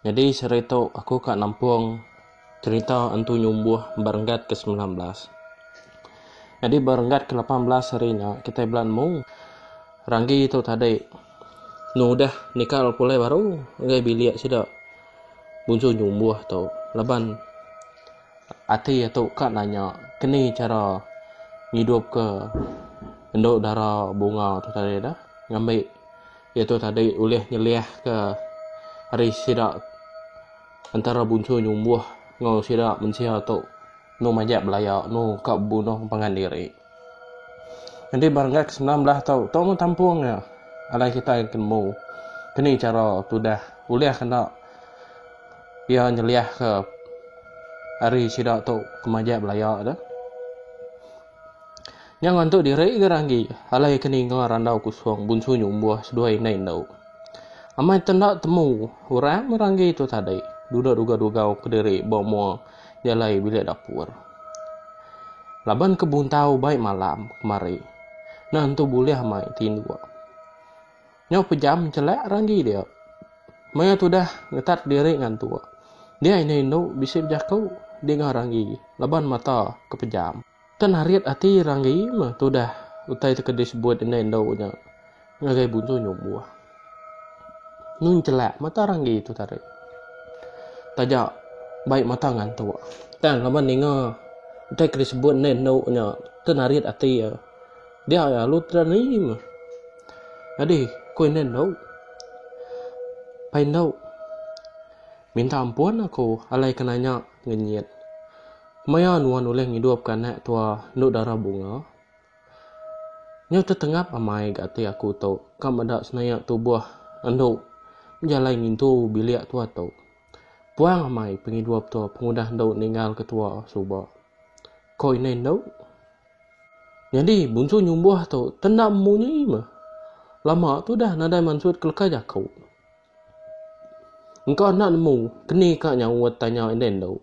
Nyadi sehari tu aku ka nampung cerita Entu Nyumbuh ba renggat ke semilan belas. Nyadi ba renggat ke lapan belas hari nya kitai bela nemu Ranggi tu tadi enu udah nikal pulai baru ngagai bilik sida Bunsu Nyumbuh tu laban ati iya tu ka nanya keni chara ngidupka endu dara bunga tu tadi dah ngambi Iya tu tadi ulih nyeliahka ari sida entara bunsur nyumbuh enggau sida mensia tu enu majak belaya enu ka bebunuh pangan diri. Nyadi ba renggat kesenam belah tu tong enggau tampung nya alai kitai ke nemu keni chara tudah ulih kena iya nyeliahka ari sida tu ke majak belaya tu. Nya ngantuk diri gerah agi. Alai ke ninga randau kusung bunsu nyumbuh seduai indai indu. Amai te enda temu orang mih ranggi tu tadi. Duduk dugau-dugau kediri ba mua jalai bilik dapur. Laban ke buntau bai malam kemari. Nah entu bulih amai tinduk. Nyau pejam njelak ranggi dia. Maya tudah ngetat diri ngantuk. Dia indu indu bisi bejaku di enggau ranggi laban mata ke pejam. Ke narit ati ranggi meh tudah utai ti ke di sebut indu indu nya ngagai bunsu nyumbuh. Nyu njelak mata ranggi tu tari. Taja bai mata ngantuk. Tang laban ninga utai ke di sebut indu indu nya ke narit ati iya. Dia ya lu tera ni meh. Adi, ku indai endau. Pai endau. Minta ampun aku alai ke nanya ngenyit. Kemaya nuan ulih ngidupka anak tua endu dara bunga? Nyau tetengap amai ga ati aku tu ka meda senaya tubuh endu bejalai ngintu bilik tua tu. Puang amai pengidup tu pengudah endu ninggalka tua suba. Ku indai endau. Nyadi Bunsu Nyumbuh tu tendam munyi meh. Lama tu dah nadai mansut keleka jaku. Engka enda nemu keni ka nyau tanya enden tu.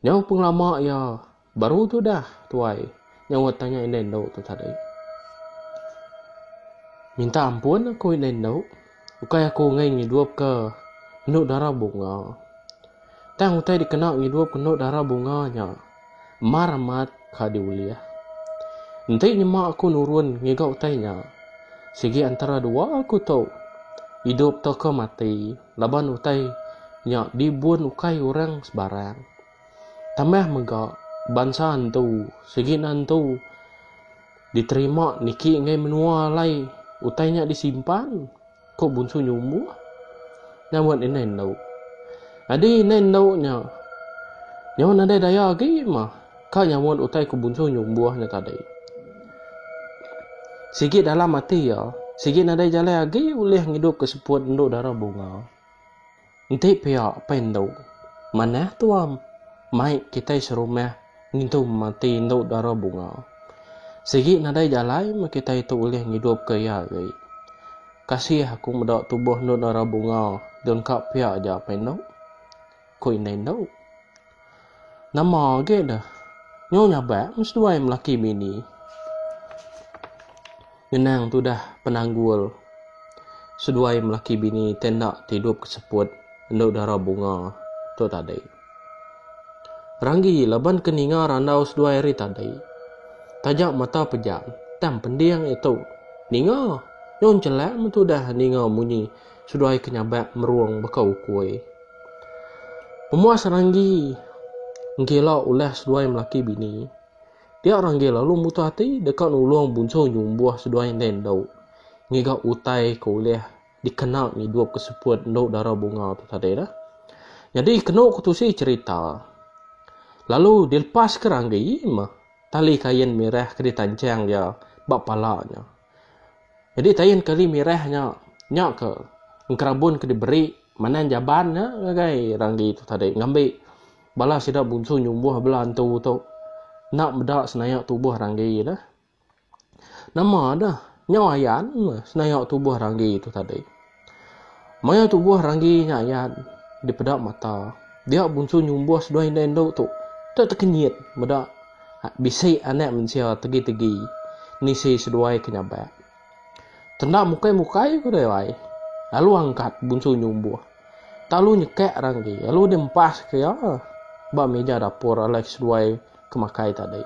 Nyau pengelama iya baru tu dah tuai nyau tanya enden tu tadi. Minta ampun aku enden tu. Ukai aku enggai ngidupka endu dara bunga. Tang utai dikena ngidupka endu dara bunga nya mar amat ka diulih. Enti nyema aku nurun ngiga utai nya, sigi antara dua aku tu, idup tauka mati laban utai nya dibun ukai orang sebarang. Tambah mega, bansa antu sigi ne antu. Diterima niki enggai menua alai utai nya disimpan, ku Bunsu Nyumbuh nyaubat indai endu. Nyadi indai endu nya nyau nadai daya agi mah ka nyaubat utai ku Bunsu Nyumbuh nya tadi. Sigi dalam ati iya, sigi nadai jalai agi ulih ngidupka seput endu dara bunga. Enti pia apai endu. Manah tuam. Mai kitai serumah ngintu mati endu dara bunga. Sigi nadai jalai meh kitai tu ulih ngidupka iya agi. Kasih aku meda tubuh endu dara bunga dun ka pia aja apai endu. Ku indai endu. Nama agi deh. Nyau nyabak meseduai melaki bini. Ngenang tudah penanggul seduai melaki bini tenda ti idup ke seput endo dara bunga tu tadi. Ranggi laban ke ninga randau seduai hari tadi. Taja mata pejam tang pending itu ninga nyau nchelak metudah ninga munyi. Seduai ke nyabak merung baka ukui. Pemuas seranggi nggila ulah seduai melaki bini. Dia ranggi lalu mutu ati deka nulung bunsu nyumbuh seduai indai endu. Ngiga utai ke ulah dikena ngidup ke seput endu dara bunga tu tadi dah. Nyadi kenu ke tusi cerita. Lalu dilepas ke ranggi meh tali kain mirah ke ditanchang iya ba pala nya. Jadi tayin kali mirah nya, nya ke engkerabun ke diberi Manan Jaban nya ngagai Ranggi tu tadi ngambi bala sida bunsu nyumbuh bela antu tu enda meda senayak tubuh Ranggi dah. Nama dah nyau ayan meh senayak tubuh Ranggi tu tadi. Maya tubuh Ranggi nya ayat dipeda mata, dia Bunsu nyumbuh seduai inda indu tu deka tekenyit meda bisi anak mensia tegi-tegi nisi seduai ke nyabak. Tenda mukai-mukai ku deh ai, lalu angkat Bunsu nyumbuh. Tak lalu nyekak Ranggi, lalu deh empaska iya ba meja dapur alai seduai ke makai tadi.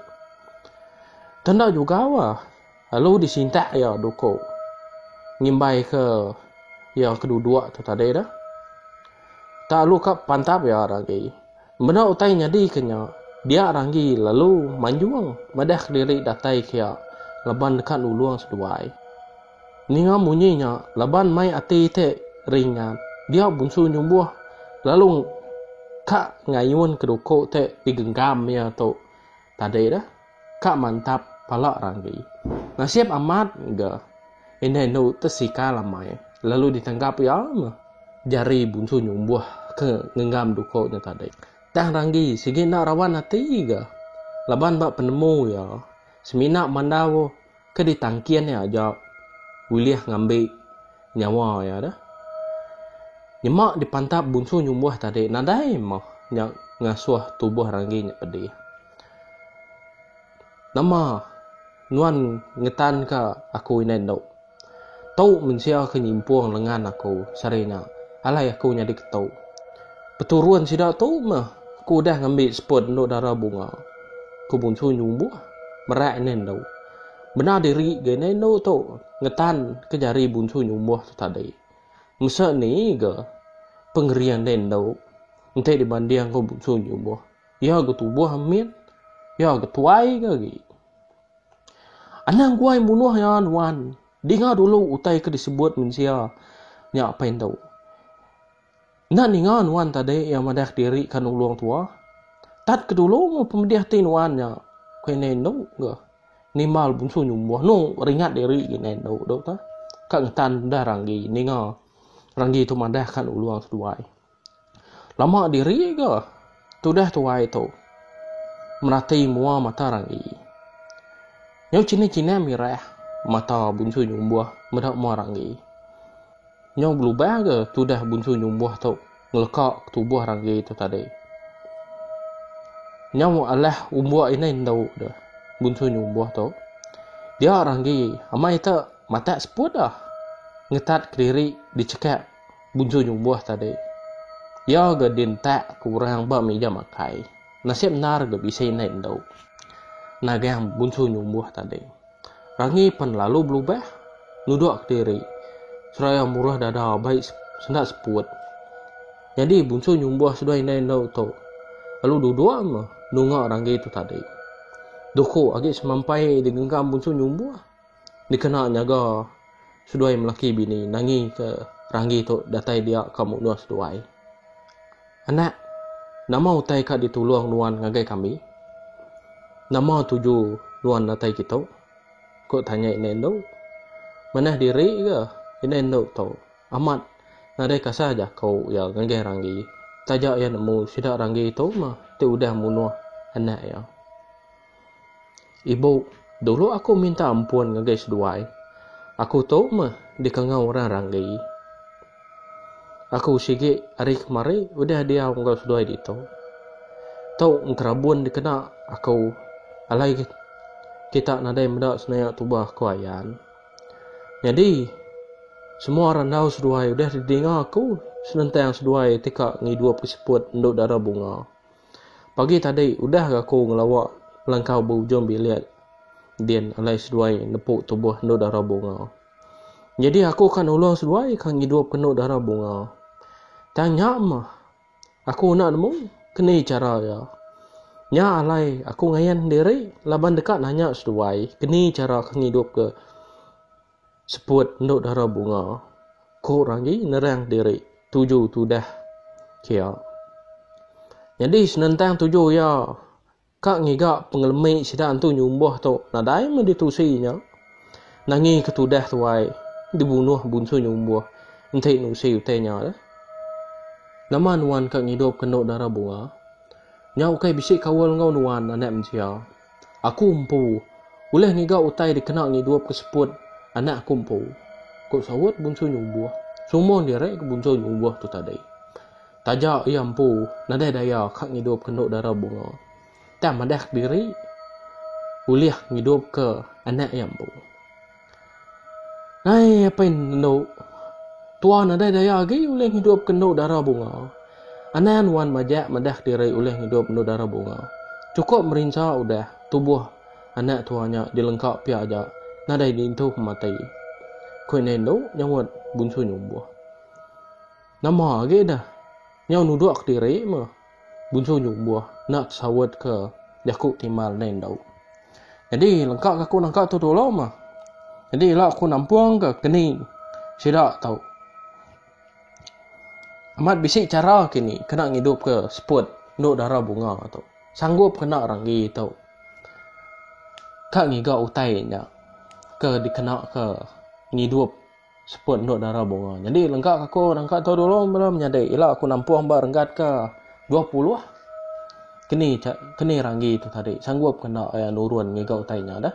Tenda juga bah. Lalu disintak iya duko ngimbai ke iya ke duduk tu tadi dah. Tak lalu ka pantap iya ranggi. Benda utai nyadi ke nya, dia ranggi lalu manjung madah ke diri datai ke iya laban deka nulung seduai. Ninga munyi nya laban mai ati ti ringat, dia bunsu nyumbuh lalu ka ngayun ke duko ti digenggam iya tu tadi dah. ka mantap pala ranggi. Nasib amat ga indah indu te sikal amai lalu ditanggap iya meh jari bunsu nyumbuh ke ngenggam duko nya tadi. Tang ranggi sigi enda rawan ati ga laban ba penemu iya semina mandau ke ditangkin iya aja ulih ngambi nyawa iya deh. Nyema dipantap bunsu nyumbuh tadi nadai meh nya ngasuh tubuh ranggi nya pedih. Nama nuan ngetanka aku indai endu? Tu mensia ke nyimpung lengan aku sehari nya. Alai aku nyadi ke tu. Peturun sida tu meh aku udah ngambi seput endu dara bunga. Ku Bungsu nyumbuh merak indai endu. Bendar diri ga indai endu tu ngetan ke jari Bungsu nyumbuh tu tadi. Mesa ni ga pengering indai endu enti dibanding enggau Bungsu nyumbuh. Iya ga tubuh amin. Iya ga tuai ga agi. Anang guai munuh iya nuan. Dinga dulu utai ke disebut mensia nya apai indu. Enda ninga nuan tadi iya madah kediri ka nulung tua. Tat ke dulu mun pemedih ati nuan nya ku indai indu ga nimbal bunsu nyumbuh anu ringat diri ga indai indu tu ka ngetan udah ranggi ninga ranggi tu madah ka nulung seduai. Lama diri ga tudah tuai tu merati mua mata ranggi. Nyau chinai-chinai mirah mata bunsu nyumbuh meda mua ranggi. Nyau belubang ga tudah bunsu nyumbuh tu ngeleka ke tubuh ranggi tu tadi. Nyau alah umbuk indai endu deh bunsu nyumbuh tu. Dia ranggi amai te matak seput dah ngetat kediri dichekap Bunsu nyubuh tadi. Iya ga dintak ke orang ba mija makai. Nasib endar ga bisi indai endu. Nagang Bunsu nyubuh tadi. Rangi pen lalu belubah. Nudok kediri. Seraya murah dada abai senda seput. Nyadi Bunsu nyubuh seduai indai endu tu. Lalu duduk meh nunga Rangi tu tadi. Duku agi semampai digenggam Bunsu nyubuh. dikena nyaga seduai melaki bini nangi ke ranggi tu datai dia ka munduh seduai. Anak, nama utai ka ditulung nuan ngagai kami? Nama tuju nuan datai kitu? ku tanya indai endu. Manah diri ga indai endu tu amat nadai kasah jaku iya ngagai ranggi taja iya nemu sida ranggi tu mah ti udah munuh anak iya. Ibu, dulu aku minta ampun ngagai seduai. Aku tu meh dikengau orang ranggi. Aku sigi ari kemari udah diau enggau seduai ditu. Tu engkerabun dikena aku alai kita nadai meda senayak tubah ku Ayan. Nyadi semua randau seduai udah didinga aku senentang seduai ti ka ngidup ke siput endu dara bunga. Pagi tadi udah ga aku ngelawa ngelangkau ba ujung bilik din alai seduai nepu tubuh endu dara bunga. Nyadi aku ka nulung seduai ka ngidupka endu dara bunga. Tang nya mah aku enda nemu ke ni chara iya. Nya alai aku ngayan diri laban deka nanya seduai ke ni chara ke ngidupka. Seput endo dara bunga. Ko Ranggi nerang diri tuju tudah kia. Nyadi senentang tuju iya ka ngiga pengelemi sida entu nyumbah tu nadai meh ditusi nya. Nangi ke tudah tuai dibunuh bunsu nyumbah enti nusi utai nya deh. Nama nuan ka ngidup ke endo dara bunga. Nya ukai bisi kaul enggau nuan anak mensia. Aku empu ulih ngiga utai dikena ngidup ke seput anak aku empu, ku saut Bunsu Nyumbuh sumung diri ke Bunsu Nyumbuh tu tadi. Taja iya empu nadai daya ka ngidupka Endok Dara Bunga, tang madahka diri ulih ngidupka anak iya empu. Hai apai endo, tuan nadai daya agi ulih ngidupka endo dara bunga. Anang nuan majak madah diri ulih ngidup endo dara bunga. Chukup merinsa udah, tubuh anak tuan nya dilengka pia aja, nadai diintu ke mati, ku indai endo nyaut Bunsu Nyumbuh. Nama agi deh, nyau nuduk diri meh. Bunsu nyu umbuh enda tesaut ke jaku ti mal dai endau. Nyadi lengka ke aku nangka tu tolong mah. Nyadi ila aku nampung ke keni sida tau. Amat bisi chara kini kena ngidup ke seput endu dara bunga tu. Sanggup kena ranggi tu. Ka ngiga utai nya ke dikena ke ngidup. Seput endu dara bunga. Nyadi lengka ka aku nangka tu dulu bala menyadi ila aku nampung ba renggat ka dua puluh. Keni keni ranggi tu tadi sanggup ke enda iya nurun ngiga utai nya dah.